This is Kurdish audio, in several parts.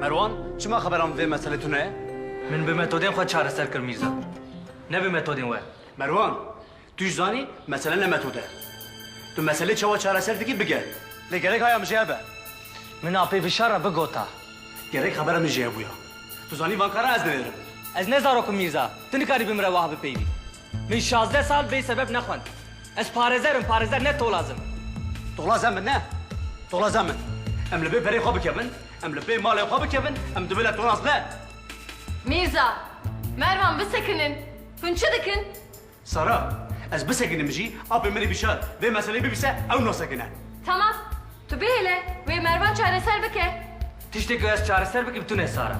Merwan, çima xeberan bi vê meselê tune ye? Min bi metodên xwe çareser kir Mîrza. Ne bi metodên we. Merwan, tu jî zanî mesele ne metod e. Tu meselê çawa çareser dikî bigeh. Lê gerek haya min jê hebe. Min apê vişar re bigota. Gerek xebera min jê hebûya. Tu zanî van karan ez dinêrim. Ez ne zarok im Mîrza. Tu nikarî bi min re wiha bipeywî. Min şazdeh sal bê sebeb nexwend. Ez parêzer im, parêzer ne tolaz im. Tolaz em in ne, tolaz em in. Em li bê berê xwe bikevin, em li bê malê xwe bikevin, em divê ne tolaz ne. Mîrza, Mervan bisekinin. Hûn çi dikin? Sara, Ez bisekinim jî, apê min ê bişar vê meseleyê bibîse ew nasekine. Tamam, tu bihêle wê Mervan çareser bike. Tiştê ku ez çareser bikim tune Sara.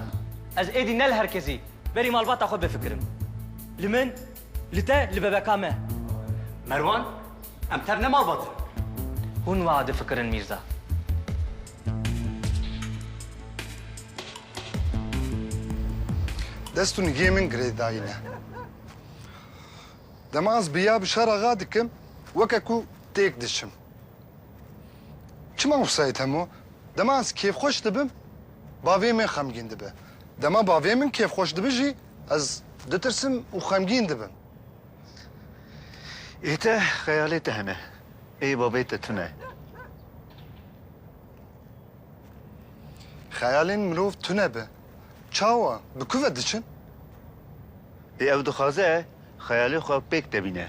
Ez êdî ne li her kesî, Berî malbata xwe bifikirim. Li min, li te, li bebeka me. Merwan, Em tev ne malbat in. Hûn wiha difikirin Mîrza. Dest û nigê min girêdayîne. Dema ez bi ya bi şer axa dikim, weke ku têk diçim. Çima wisa yê Temo? Dema ez kêfxweş dibim, bavê min xemgîn dibe. Dema bavê min kêfxweş dibe jî ez ditirsim û xemgîn dibim. Ê te xeyalê te hene. Ê bavê te tune. Xeyalên mirov tune be. Çawa? Bi ku ve diçin? Ê ew dixwaze xeyalê xwe pêk tevîne.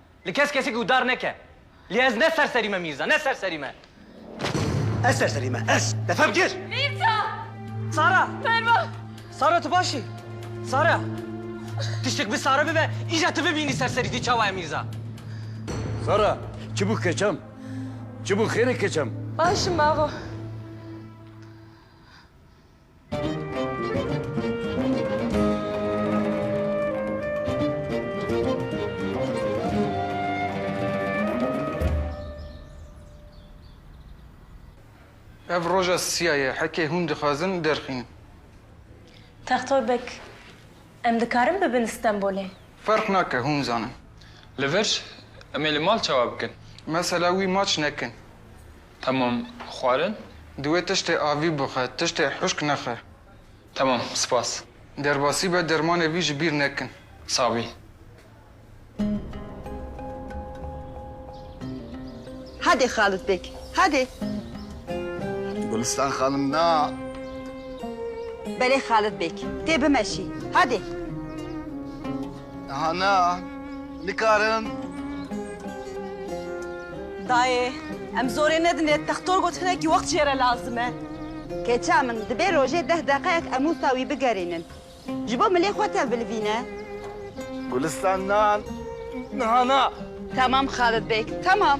Li kes kesî guhdar neke. Lê ez ne serserî me Mîrza, ne serserî me. Ez serserî me, ez! Defe bigir! Mîrza! Sara! Merva! Sara tu baş î? Sara! Tiştek bi Sara bibe, îcar tu bibînî serserî tî çawa ye Mîrza. Sara! Çi bû keçam? Çi bû xêr e keçam? Baş im ava. Ev roja siya ye, heke hûn dixwazin derxîn. Textor beg, em dikarin bibin Stenbolê? Ferq nake, hûn zanin. Li vir, em ê li mal çawa bikin? Mesela wî maç nekin. Temam, xwarin? Divê tiştê avî bixe, tiştê huşk nexe. Temam, spas. Derbasî be, dermanê vî ji bîr nekin. Sabî. Hadi Xalit bek, hadi. Gulistan xanim na. Belê Xalit bek, tê bimeşî, hadi. Aha na, nikarin. Dayê, em zorê nedinê, textor got hinekî wext jê re lazim e. Keça min, dibê rojê deh deqeyek em wisa wî bigerînin. Ji bo milê xwe tevilvîne. Gulistan na, niha na. Temam Xalid beg, temam.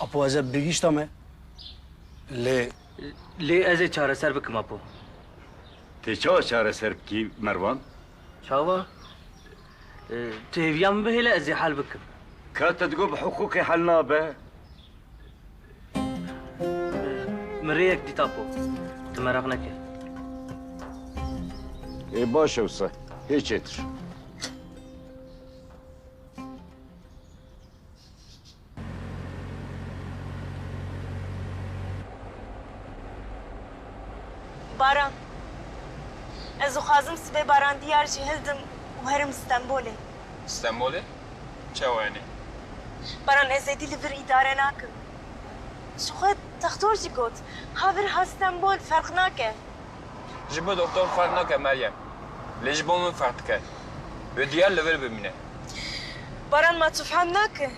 Apo ez ê bigîşta me. Lê Lê ez ê çareser bikim Apo. Tê çawa çareser bikî Merwan? Çawa? Ee, Tu hêviya min bihêle ez ê hel bikim. Ka te digot bi hiqûqê hel nabe? Min rêyek dît Apo. Tu meraq neke. Ê baş e wisa. Hê çêtir. Baran. Ez dixwazim sibê baran diyar jî hildim û herim Stenbolê. Stenbolê? çawa hene. Baran ez êdî li vir îdare nakim. Ji xwe textor jî got, ha vir ha Stenbol ferq nake. Ji bo doktor ferq nake Meryem. Lê ji bo min ferq dike. Wê diyar li vir bimîne. Baran ma tu fehm nake.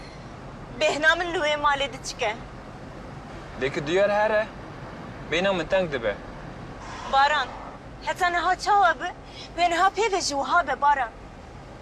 Bêhna min li wê malê diçik e. Lê ku diyar her e, bêhna min teng dibe. Baran, heta niha çawa bi, wê niha pê ve jî wiha be Baran.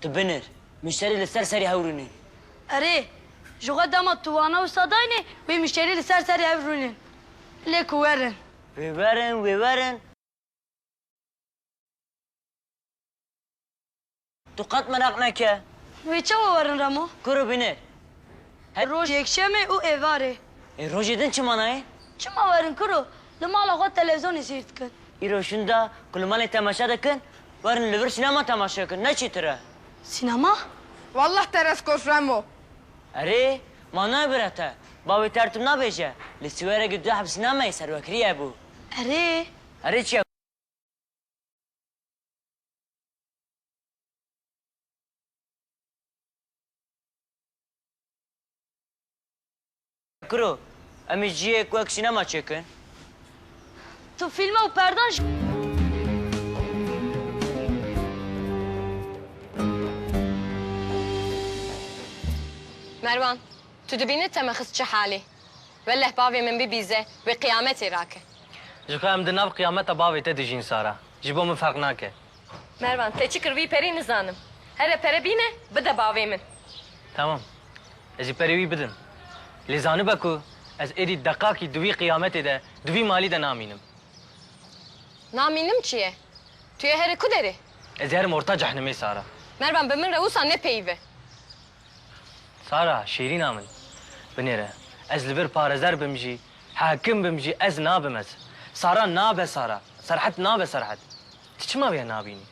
Tu binir. Muşterî li ser serê hev rûnin. Erê, ji xwe dema tu wana wisa dayne wê muşterî li ser serê hev rûnin. Lê ku werin. Wê werin, wê werin. Tu qet meraq neke. Wê çawa werin Remo? Kuro binir. Her roj yekşemê û êvarê. Ê rojê din çima nayê? Çima werin kuro, li mala xwe televizonê seyr dikin. Îro şinda ku li malê temaşe dikin, werin li vir sînema temaşe bikin, ne çîtir e. Sînema? Wallah te rest kos Remo. Erê, ma ne bire te, bavê te ertim nabêje, li Siwerekê du heb sînemeyê serwekirî hebû. Erê. Erê çi ye? Kiro, em ê cihêk wek sînema çêkin. Tu fîlme û perdan ji. Merwan, tu dibînî Temexiz çi halê? Welleh bavê min bibîze wê qiyametê rake. Jixwe em di nav qiyameta bavê te dijîn Sara. Ji bo min ferq nake. Mervan, te çi kir wî perî nizanim. Here pere bîne bide bavê min. Tamam, ez jî perê wî bidim. Lê zanibe ku ez êdî deqakî di wî qiyametê de, di wî malî de namînim. Namînim çi ye? Tu yê here ku derê? Ez ê herim orta cehnimê Sara. Mervan, bi min re wisa nepeyive. Sara, şêrîna min. Binêre. Ez li vir parezer bim jî, hakim bim jî ez nabim ez. Sara nabe Sara. Serhet nabe Serhet. Tu çima wê nabînî?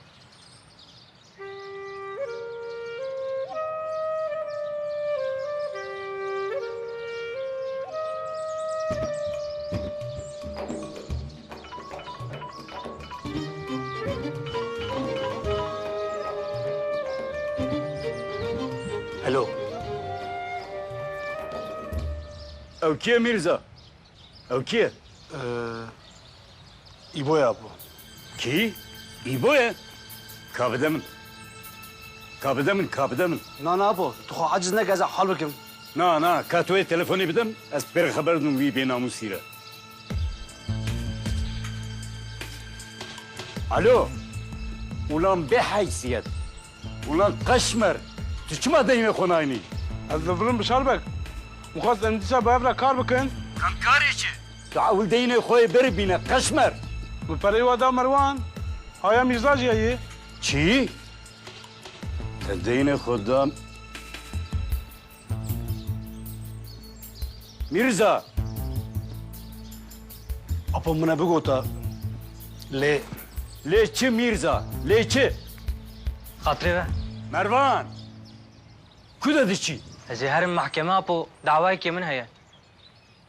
Helo. Ew kî ye Mîrza? Ew kî ye? Îbo ye apo. Kî? Îbo ye? Ka bide min. Ka bide min, ka bide min. Na na apo, tu xwe aciz neke ez ê hal bikim. Na na, ka tu wê telefonê bide min, ez pêre xeber didim wî bênamûsî re. Alo! Ulan bêheysiyet! Ulan qeşmer, tu çima deynê xwe nayînî? Ez li vir im Bişar beg. Min xwest em dîsa bi hev re kar bikin. Kan karê çi? Tu ewil deynê xwe yê beri bîne qeşmer. Min pereyê we da Merwan. Haya Mîrza jî heye. Çi? Te deynê xwe da. Mîrza! Apo min e bigota lê lê çi Mîrza? Lê çi? Xatirê ve. Mervan! Ku de diçî? Ez ê herim mehkeme apo dawayekê min heye.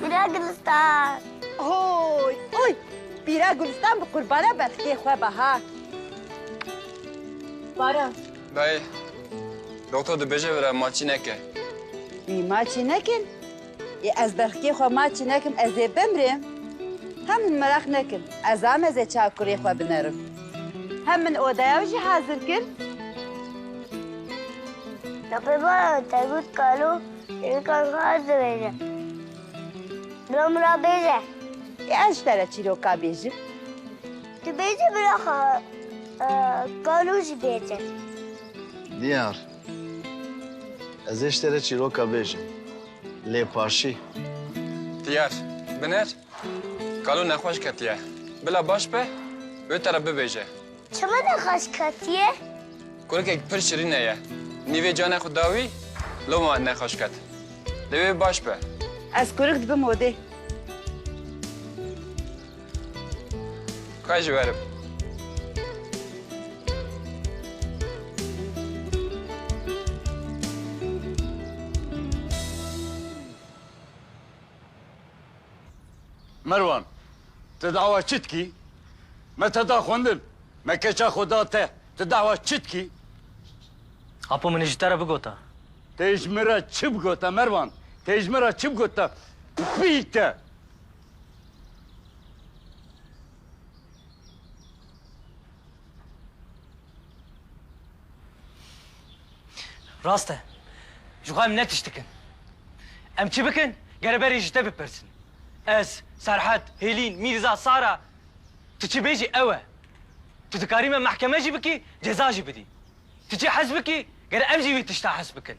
Pîra Gulîstan. Oy, oy! Pîra Gulîstan bi qurbana bextê xwe be ha. Baran. Dayê, doktor dibêje vira maçî neke. Wî maçî nekin. Yê ez berxkê xwe maçî nekim ez ê bimrêm? Hem min meraq nekin ez am ez ê çawa kurê xwe binerim. Hem min odaya wî jî hazir kir. Tapêvaran te got kalo çîrokan xwe ez dibêje. Bira min ra bêje. Yê ez ji te re çîroka bêjim. Tu bêje bira xwe kalo jî bêje. Diyar, Ez ê ji te re çîroka bêjim. Lêpaşî. Diyar, Binêr, kalo nexweş ketiye. Bila baş be, wê te re bibêje. Çima nexweş ketiye? Kurikek pir şirîn heye. Nîvê canê xwe da wî, loma nexweş ket. Lê wê baş be. Ez kurik dibim odê. Xwe ji we re bi. Merwan, tu dawa çi dikî? Me te da xwendin, me keça xwe da te. Tu dawa çi dikî? Apo min ji te re bigota. Tê ji min re çi bigota Merwan? Tê ji min re çi bigota? Pî te! Rast e. Ji xwe em ne tişt dikin. Em çi bikin gere berê ji te bipirsin. Ez, Serhet, Hêlîn, Mîrza, Sara tu çi bêjî ew e. Tu dikarî me mehkeme jî bikî, ceza jî bidî. Tu çi hez bikî gere em jî vê tişta hez bikin.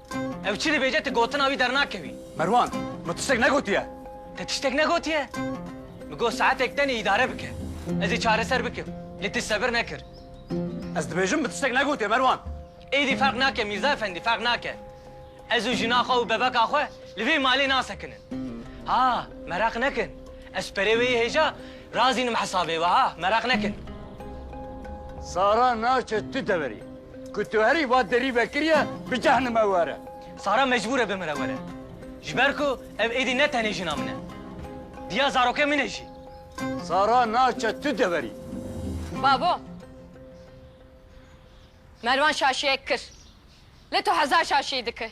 Ew çi dibêje tu gotina wî dernakevî. Merwan, min tiştek negotiye. Te tiştek negotiye? Min got saetek tenê îdare bike. Ez ê çareser bikim. Lê tu sebir nekir. Ez dibêjim min tiştek negotiye Merwan. Êdî ferq nake Mîrza efendî ferq nake. Ez û jina xwe û bebeka xwe li vê malê nasekinin. Ha, meraq nekin. Ez perê wê yê hêja razînim hesabê wiha meraq nekin. Sara naçe tu deverî. Ku tu herî va derî vekiriye bi cehnime were. Sara mecbûr e bimire were. Ji ber ku ev êdî ne tenê jina min e. Diya zarokên min e jî. Sara naçe tu deverî. Babo! Mervan şaşiyek kir. Lê tu hezar şaşiyî dikî.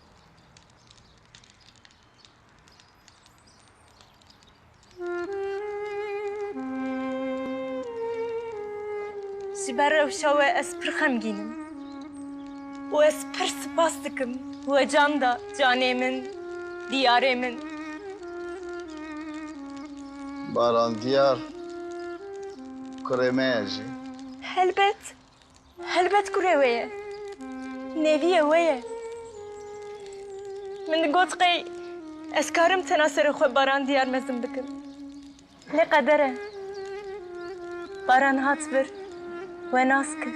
Ji ber rewşa we ez pir xemgîn im û ez pir sipas dikim we can da canê min, diyarê min. Baran Diyar kurê me ye jî. Helbet Helbet kurê wê ye. Nêviyê wê ye. Min digot qey ez karim tena serê xwe Baran diyar mezin bikim. Lê qeder e. Baran hat vir we nas kir.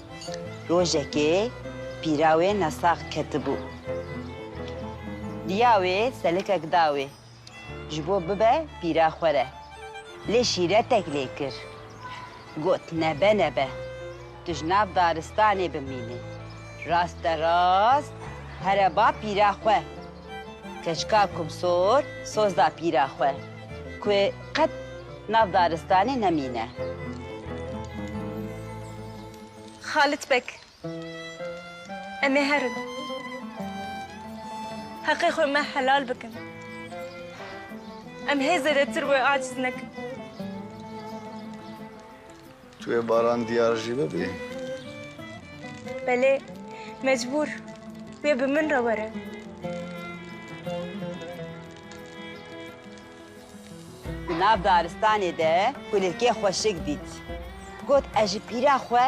Rojekê pîra wê nesax ketibû. Diya wê selikek da wê ji bo bibe pîra xwe re. Lê şîretek lê kir. Got, Nebe nebe, tu ji nav daristanê bimînî. Raste rast here ba pîra xwe. Keçika Kumsor sozda pîra xwe ku qet nav daristanê nemîne. Xalit Beg, Em ê herin. Heqê xwe me helal bikin. Em hê zêdetir wê aciz nekin. Tu yê baran diyar jî bibî? Belê, mecbûr. Wê bi min re were. Di nav daristanê de kulîlkê xweşik dît. Got ez ji pîra xwe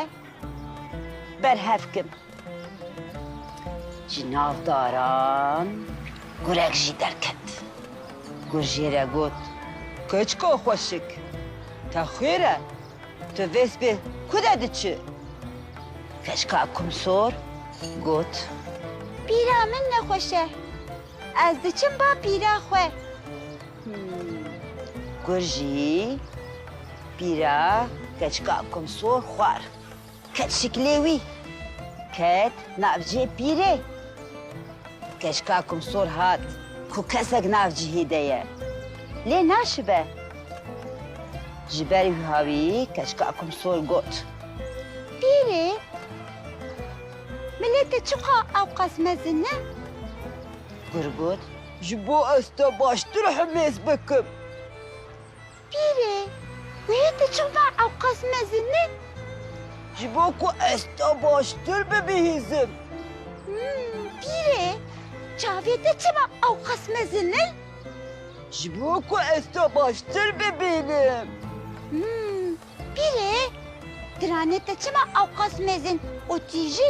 berhev kim. Ji nav daran gurek jî derket. Gur jê re got, Keçika xweşik, te xwêr e, tu vê sibê ku de diçi? Keçika Kumsor got, Pîra min nexweş e, ez diçim ba pîra xwe. Gur jî pîra keçika Kumsor xwar. Ket şiklê wî. Ket navcê pîrê. Keşka kumsor hat ku kesek nav cihê de ye. Lê naşibe. Ji ber wî hawî keşka kumsor got. Pîrê, miletê çiqa ewqas mezin e? Gur got. Ji bo ez te baştir himêz bikim. Pîrê, wehî tu çima ewqas mezin î? Ji bo ku ez te baştir bibihîzim. Pîrê, çavê te çima ewqas mezin î? Ji bo ku ez te baştir bibînim. Pîrê, diranê te çima ewqas mezin û tîj î?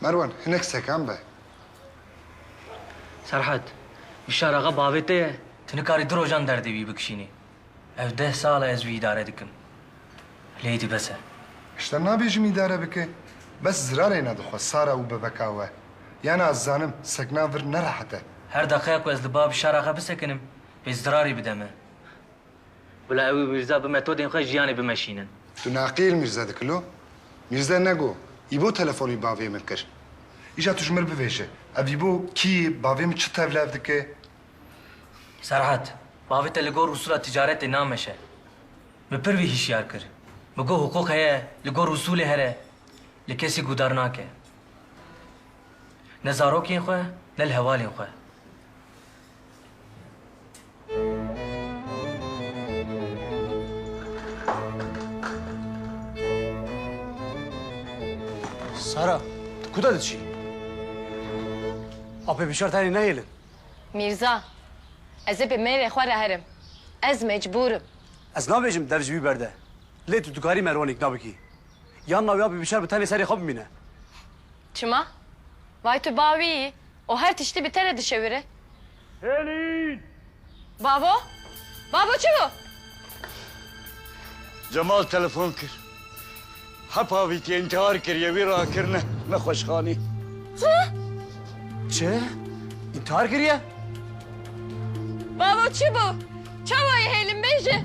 Merwan, hinek sekan be. Serhat, Bişar axa bavê te ye, tu nikarî du rojan derdê wî bikişînî. Ev deh sal e ez wî îdare dikim. Lê îdî bes e. Hişta nabêjim îdare bike. Bes zirarê ne dixwe Sara û bebeka we. Yan ez zanim sekna vir nerehet e. Her deqeya ku ez li ba Bişar axa bisekinim, pê zirarî bide me. Bila ew û Mîrza bi metodên xwe jiyanê bimeşînin. Tu neqîl Mîrza dikî lo? Mîrza nego, Îbo telefonî bavê min kir. Îja tu ji min bivêje, ev Îbo kî ye, bavê min çi tevlev dike? Serhat, bavê te li gor usûla ticaretê nameşe. Min pir vî hişyar kir. Min got hiqûq heye, li gor usûlê here, li kesî gûdar nake. Ne zarokên xwe, ne li hevalên xwe. Sara, tu ku de diçî? Apê bîşar tenê nehêlin. Mîrza, ez ê bi mêrê xwe re herim. Ez mecbûr im. Ez nabêjim dev ji wî berde. Lê tu dikarî Merwanê îkna bikî. Yan na wê apê bîşar bi tenê serê xwe bimîne. Çima? Vay tu bawî yî û her tiştî bi te re dişewire. Hêlîn! Babo! Babo çi bû? Cemal telefon kir. Hepa vî tî întihar kiriye, wî rakirine nexweşxanê. Çi? Çi? Întihar kiriye? Babo çi bû? Çawa yê Hêlîn bêje?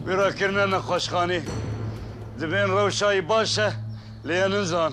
Wî rakirine nexweşxanê. Divên rewşa yî baş e lê ya ninzan.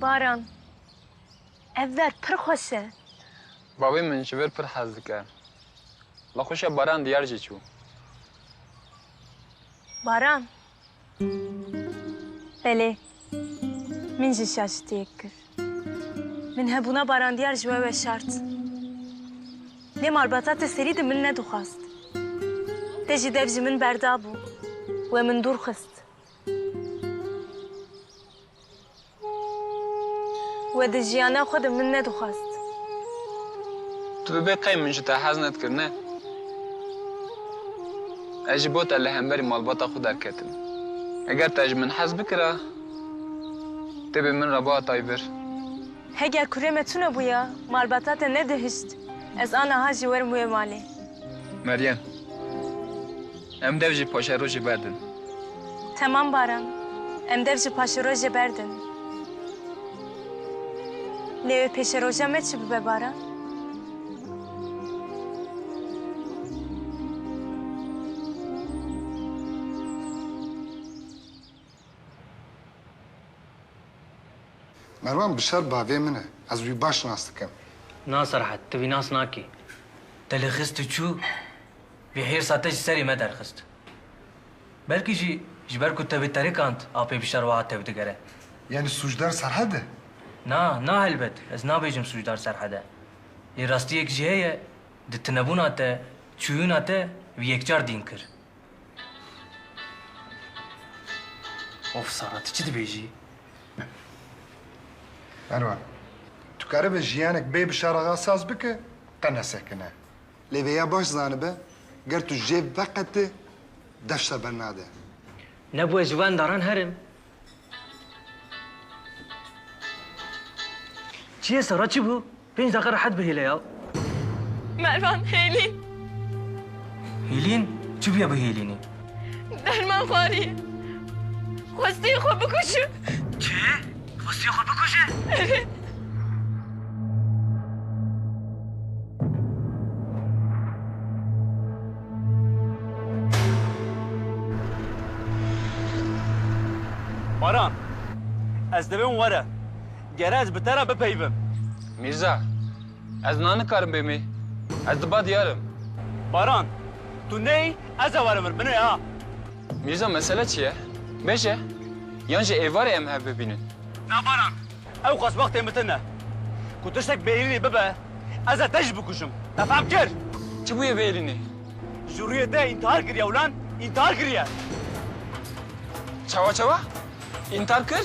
Baran, ev ver pir xweş e. Bavê min ji vir pir hez dike. La xweşiya baran diyar jî çû. Baran, belê. Min jî şaşitiyek kir. Min hebûna barandiyar ji we weşart. Lê malbata te serî di min nedixwast. Te jî dev ji min berdabû, we min dûr xist. We di jiyana xwe de min nedixwast. Tu bi bê qey min ji te hez nedikir, ne? Ez ji bo te li hemberî malbata xwe derketim. Eger te ji min hez bikira, têbê min re biha tay vir. Heger kurê me tune bûya, malbata te nedihişt, ez aniha jî werim wê malê. Meryem, Em dev ji paşerojê berdin. Temam Baran, Em dev ji paşerojê berdin. Lê wê pêşeroja me çi bibe Baran? Merwan bi şer bavê min e. Ez wî baş nas dikim. Na Serhat, tu wî nas nakî. Te li xist û çû, vê hêrsa te ji serê me derxist. Belkî jî ji ber ku te wê terikand apê bi şer wiha tev digere. Yanî sûcdar Serhat e? Na, na helbet, ez nabêjim sûcdar Serhat e. Lê rastiyek jî heye di tunebûna te, çûyûna te wî yekcar dîn kir. Of Sara tu çi dibêjî? Merwa, tu keribe jiyanek bê bi şerexa saz bike qe nesekine. Lê vêya baş zanibe ger tu jê veqete deşte bernade. Nebûye ji we indaran herim. Çiye Sara çi bû? Pênc deqe rehet bihêle ya. Mervan, Hêlîn. Hêlîn? Çi bûye bi Hêlînê? Derman xwariye. Xwestiye xwe bikuşe. Çi? Xwestiye xwe bikuşe? Evet. Baran, ez divêm were. Gere ez bi te re bipeyivim. Mîrza, ez niha nikarim bêmê. Ez di ba diyar im. Baran, tu neyî ez e were vir binê ha. Mîrza, mesele çi ye? Bêje. Yan jî êvarê em hev bibînin. Na Baran, Ew xweşbextê min tune. Ku tiştek bêrînê bibe, ez ê te jî bikujim. Te fehm kir? Çi bûye bêrînê? Ji rûyê te întihar kiriye ulan, întihar kiriye. Çawa çawa? Întihar kir?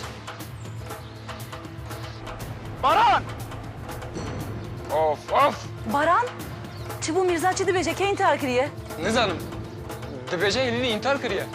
Baran! Of of! Baran? Çi bû Mîrza çi dibêje? Kê întihar kiriye? Nizanim. Dibêje Hêlînî întihar kiriye.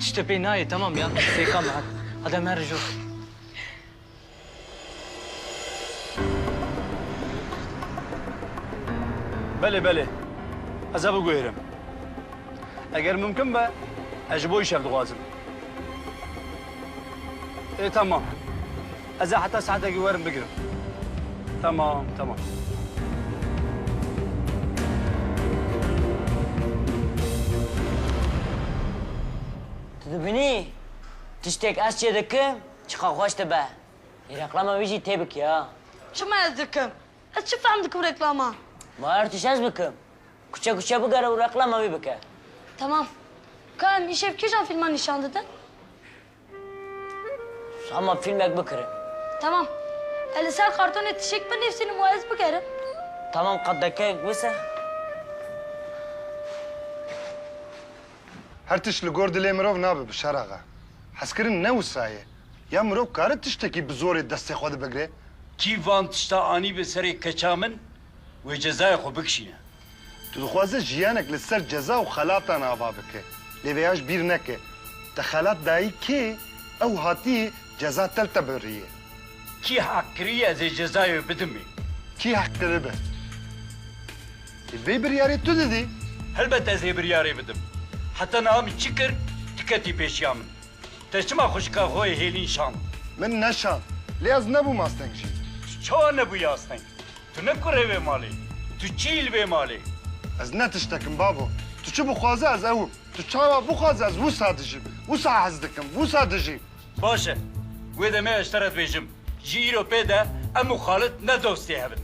Tişt te pê nayê temam ya. Sêka me hadi. Hadi em herin jûr. Belê belê. Ez e biguhêrim. Eger mimkin be ez ji bo îşev dixwazim. Ê temam. Ez ê heta saetekî werim bigirim. Temam, temam. Tu dibînî tiştêk ez çê dikim çiqas xweş dibe. Ê reklama wî jî têbikê ha. Çima ez dikim? Ez çi fehm dikim reklaman? Ma her tişt ez bikim. Kuçe kuçe bigere û reklama wî bike. Temam. Ka em îşev kîjan fîlman nîşan didin? Hema fîlmek bikirin. Tamam. Ez li ser kartonê tişek binivîsînim û ez bikerim. Tamam qat dakeyek bise. Her tişt li gor dilê mirov nabe Bişar axa. Hezkirin ne wisa ye. Ya mirov kare tiştekî bi zorê destê xwe di bigre? Kî van tişta anî be serê keça min wê cezayê xwe bikişîne. Tu dixwaze jiyanek li ser ceza û xelatan ava bike. Lê vêya ji bîr neke. Te xelat dayî kê? Ew hatî ceza tev te birîye. Kî heq kirî ez ê cezayê wê bidim ê? Kî heq kiribe? Lê vê biryarê tu didî. Helbet ez ê biryarê bidim. Heta niha min çi kir, tu ketî pêşiya min. Te çima xwişka xwe yê Hêlîn şand? Min neşand. Lê ez nebûm asteng jî. Tu çawa nebûyî asteng? Tu ne kurê vê malê. Tu çiyî li vê malê? Ez ne tiştek im babo. Tu çi bixwaze ez ew im. Tu çawa bixwaze ez wisa dijîm. Wisa hez dikim. Wisa dijîm. Baş e. Wê demê ez ji te re dibêjim. Ji îro pê de em û Xalid ne dost yê hev in.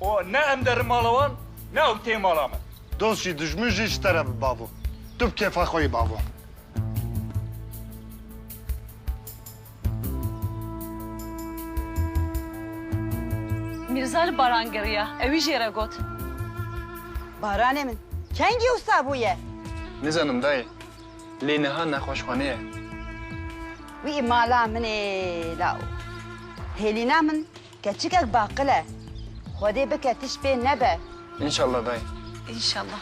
Û ne em derin mala wan ne ew tê mala me. Dost jî dijmin jî ji te re bi babo. Tu bi kêfa xwe yî babo. Mirza li baran geriya, ewî jê re got. Baranê min, kengî wisa bûye? Nizanim dayê, lê niha nexweşxane ye. Wî mala min ê law. Hêlîna min keçikek baqil e. Xwedê bike tişt pê nebe. Înşallah dayê. Înşallah.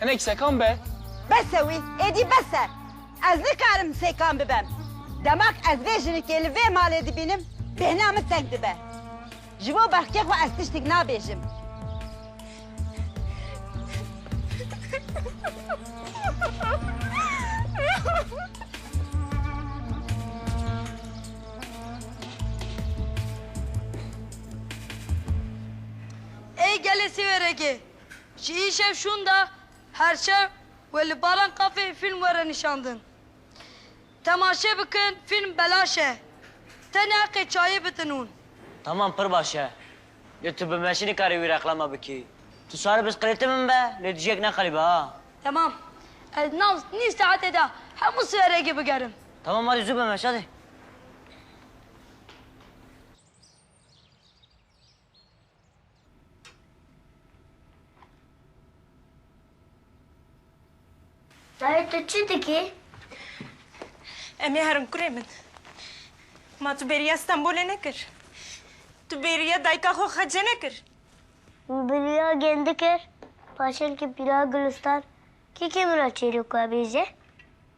Hinek sekan be. Bes e wî, êdî bes e. Ez nikarim sekan bibem. Demak ez vê jinikê li vê malê dibînim, bêhna min teng dibe. Ji bo bexkê xwe ez tiştik nabêjim. Ey gelê sî wêrekê. Ji îşev şûn de her şev wê li Baran Cafe fîlm were nîşandin. Temaşe bikin fîlm belaş e. Tenê heqê çayê bidin hûn. Tamam pir baş e. Lê tu bi me jî nikarî wî reklama bikî. Tu sari bi sqilêtê min be lê tu jî yek neqelî be ha. Tamam. Ez nav nîv saetê de hemû siwerekê bigerim. Tamam hadi zû be meşa dê. Dayê tu çi dikî? Em ê herin kurê min. Ma tu bêriya Stenbolê nekir? Tu bêriya dayika xwe xecê nekir? Min bêriya gêndi kir. Paşenkê Pîra Gulistan kî kê min re çêrok vebêje?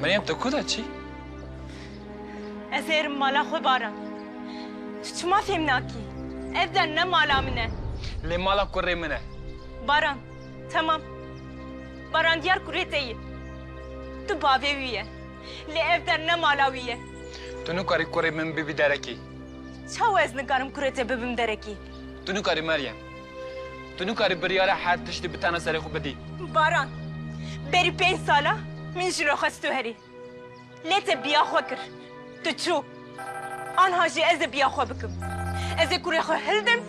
Meryem tu ku de çî? Ez ê erim mala xwe baran. Tu çima fêm nakî? Ev de ne mala min e. Lê mala kurê min e. Baran, temam. Baran diyar kurê te ye. Tu bavê wî ye. Lê ev der ne mala wî ye. Tu nikarî kurê min bibî derekî. Çawa ez nikarim kurê te bibim derekî? Tu nikarî Meryem. Tu nikarî biryara her tiştî bi tena serê xwe bidî. Baran, berî pênc sal e min ji re xwest tu herî. Lê te biya xwe kir. Tu çû. Anha jî ez ê biya xwe bikim. Ez ê kurê xwe hildim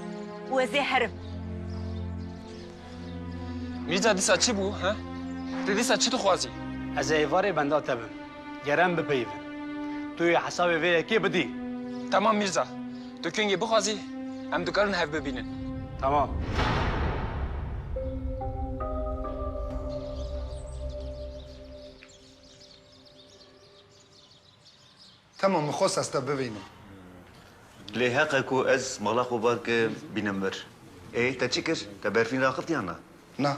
û ez ê herim. Mîrza dîsa çi bû he? Ti dîsa çi dixwazî? Ez ê êvarê benda te bim. Ger em bipeyivin, tu yê hesabê vê yekê bidî. Temam Mîrza. Tu kengê bixwazî, em dikarin hev bibînin. Temam. Temam, min xwest ez te bivînim. Lê heq e ku ez mala xwe bar kim, bînim vir. Ê te çi kir? Te berfîn raxist yan na? Na.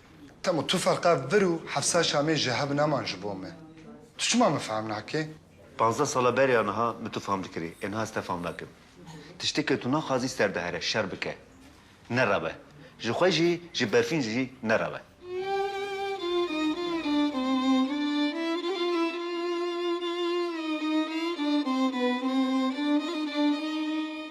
Temo tu ferqa vir û Hefsa Şamê ji hev neman ji bo me. Tu çima min fehm nakê? Panzdeh sala beriya niha min tu fehm dikirî, ê niha ez te fehm nakim. Tiştê ke tu naxwazî ser dihere, şer bike. Nerabe. Ji xwe jî, ji Berfîn jî nerabe.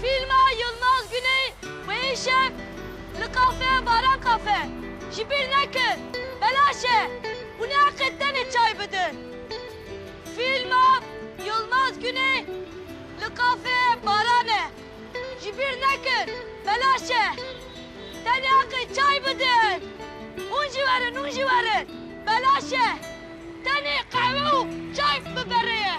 Fîlma Yilmaz Guney wêyî şev li kafeya Baran Kafe ji bîr nekir, belaş e û neheqê tenê çay bidin. Fîlma Yilmaz Guney li kafeya Baran e ji bîr nekir, belaş e tenê heqê çay bidin. Hûn jî werin, hûn jî werin, belaş e tenê qehwe û çay biberê ye.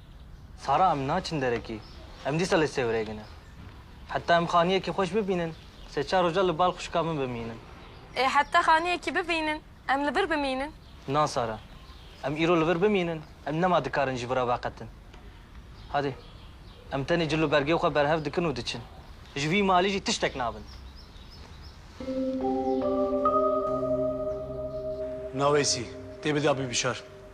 Sara em naçin derekê. Em dîsa li Sêwreg ne. Heta em xaniyekî xweş bibînin, sê çar roja li bal xwişka min bimînin. Ê heta xaniyekî bibînin, em li vir bimînin. Na Sara. Em îro li vir bimînin, em nema dikarin ji vir re veqetin. Hadê. Em tenê cil û bergê xwe berhev dikin û diçin. Ji vî malê jî tiştek nabin. Na Weysî. Tê bida bibişar.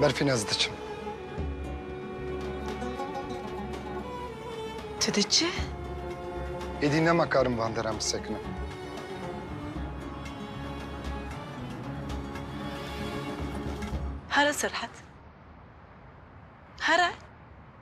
Berfîn ez diçim. Tu diçi? Êdî nema karim van deran bisekinim. Here Serhat. Here.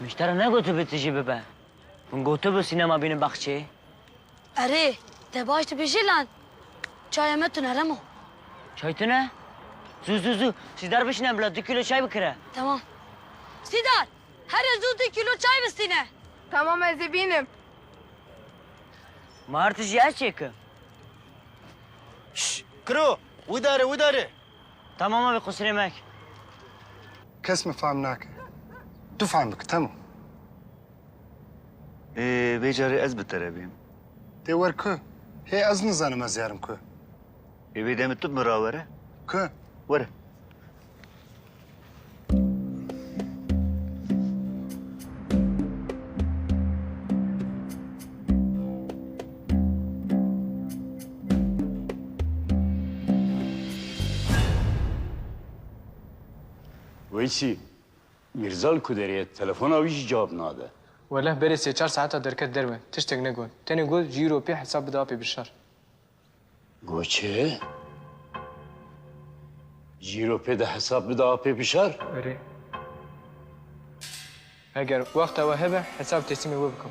Min ji te re negotibe tu jî bibe. Min gotibe sînema bînin baxçê. Erê, te baş dibêjî lan. Çaya me tune rem o. Çay tune? Zû zû zû Sîdar bişine bila du kîlo çay bikire. Tamam. Sîdar, here zû du kîlo çay bistîne. Tamam ez ê bînim. Ma artişî ez çêkim. Şş! Kiro! Widare, widare! Tamam abî qusirê mek. Kes min fehm nake. Tu fehm bikî temam. Ê vê carê ez bi te re bêm. Tê wer ku? Hê ez nizanim ez yarim ku? Ê vê demê tu bi min rawere. Ku? Were. Weysî, Mîrzal ku derê ye telefona wî jî cewab nade. Weleh berê sê çar saeta derket derve, tiştek negot. Tenê got ji îro pê hesab bide apê Bişar. Goçe? Cîro pê de hesab bide apê bişar? Erê. Eger wexta we hebe hesab teslîmê we bikim.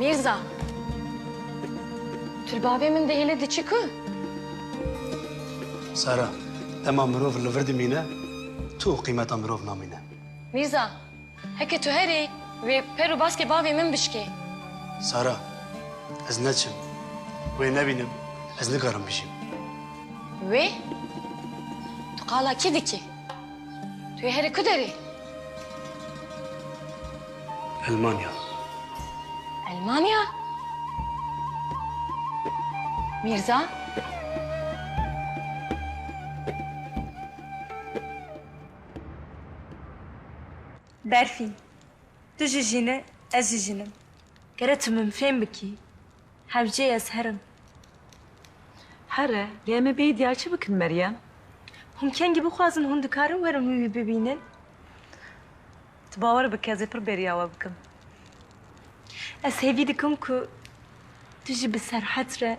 Mirza. Tulbavê min dihêle diçi ku? Sara, dema mirov li vir dimîne, tu û qîmeta mirov namîne. Mirza. Heke tu herî, wê per û baskê bavê min bişkê. Sara, ez neçim. Wê nebînim, ez nikarim bijîm. Wê? Tu qala kî dikî? Tu yê herî ku derî? Elmanya. Elmanya? Mîrza? Berfîn, Tu jî jîn î, ez jî jîn im. Kere tu min fêm bikî, hewcê ez her im. Here, lê em ê bêyî diyar çi bikin Meryem? Hûn kengî bixwazin hûn dikarin werin wî wî bibînin? Tu bawer bike ez ê pir bêriya we bikim. Ez hêvî dikim ku tu jî bi serhet re.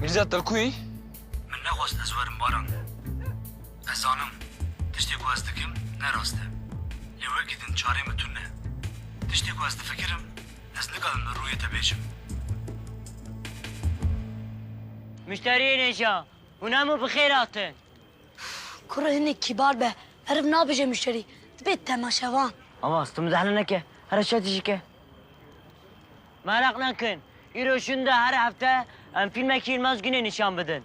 Mîrzet Dilkuyî? Min nexwest ez werim Baran. Ez zanim tiştê ku ez dikim ne rast e. Lê wekî din çarê min tune. Tiştê ku ez difikirim Ez nikarim li rûyê te bêjim. Muşteriyên hêja, hûn hemû bi xêr hatin. Kurê hinek kîbar be, meriv nabêje muşterî, dibê temaşevan. Avaz, tu mizehna neke, here şetî jî ke. Meraq nekin, îro şûnde her hefte em fîlmekî Yilmaz Gunê nîşan bidin.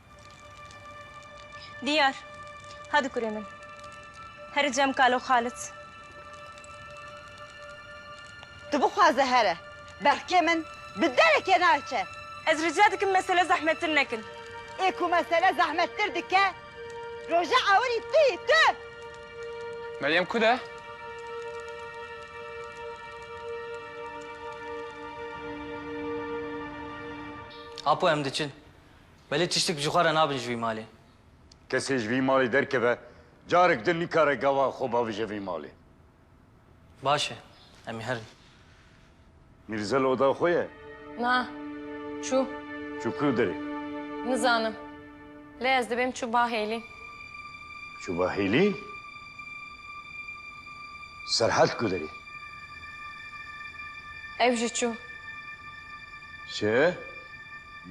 Diyar, hadi kurê min. Here cem kalo Xalit. Tu bixwaze here. Berxkê min bi derekê naçe. Ez rica dikim mesele zehmettir nekin. Ê ku mesele zehmettir dike roje ewirî tu yî, tu! Meryem ku de? Apo em diçin. Belê tiştik ji xwe re nabin ji vî malê. Kesê ji vî malê derkeve, carek din nikare gava xwe bavije vî malê. Baş e. Em ê herin. Mîrzel oda xwe ye? Na. Çû. Çû ku derê? Nizanim. Lê ez dibêm çû ba hêlî. Çû ba hêlî? Serhad ku derê? Ew jî çû. Çi?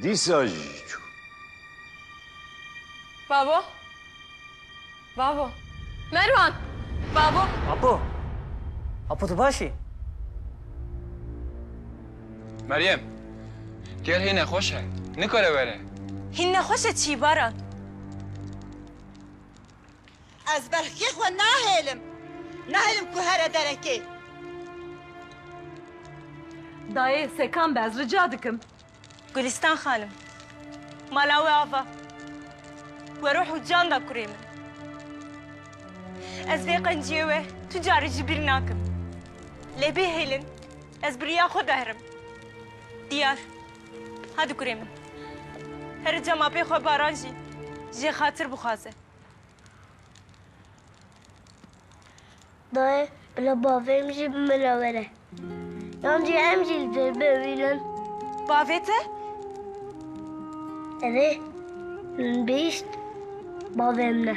Dîsa jî çû. Babo! Babo! Merwan! Babo! Apo! Apo tu baş î? Meryem! Gel hê nexweş e. Nikare were. Hîn nexweş e çî Baran? Ez berxkê xwe nahêlim. Nahêlim ku here derekê. Dayê Sekan be ez rica dikim. Gulîstan xanim, mala wê ava we ruh û can da kurê min. Ez vê qenciyê we tu carî jî bîr nakim. Lê bêhêlin ez bi riya xwe dehirim. Diyar, hadi kurê min. Here cem apê xwe Baran jî jê xatir bixwaze. Nayê bila bavê min jî bi min re were. Yan jî em jî li dêr bimînin. Bavê te? Ev ê min bihîst bavê min e.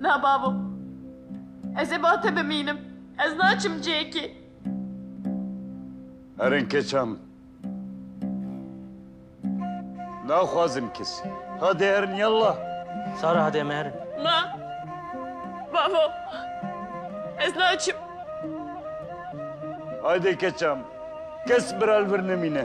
Na bavo. Ez ê ba te bimînim. Ez naçim cêkê. Herin keça min. Naxwazim kesî. Hadê herin yalla. Sara hadê em ê herin. Na. Bavo. Ez naçim. Haydê keça min. Kes bira li vir nemîne.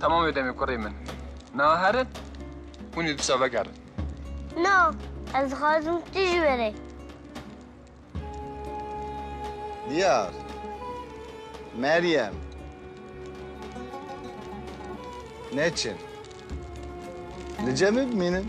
Tamam ödemi kurê min. Na herin, hûn ê disa vegerin. Na, ez dixwazim tu jî were. Diyar. Meryem. Neçin. Li cemê bimînin.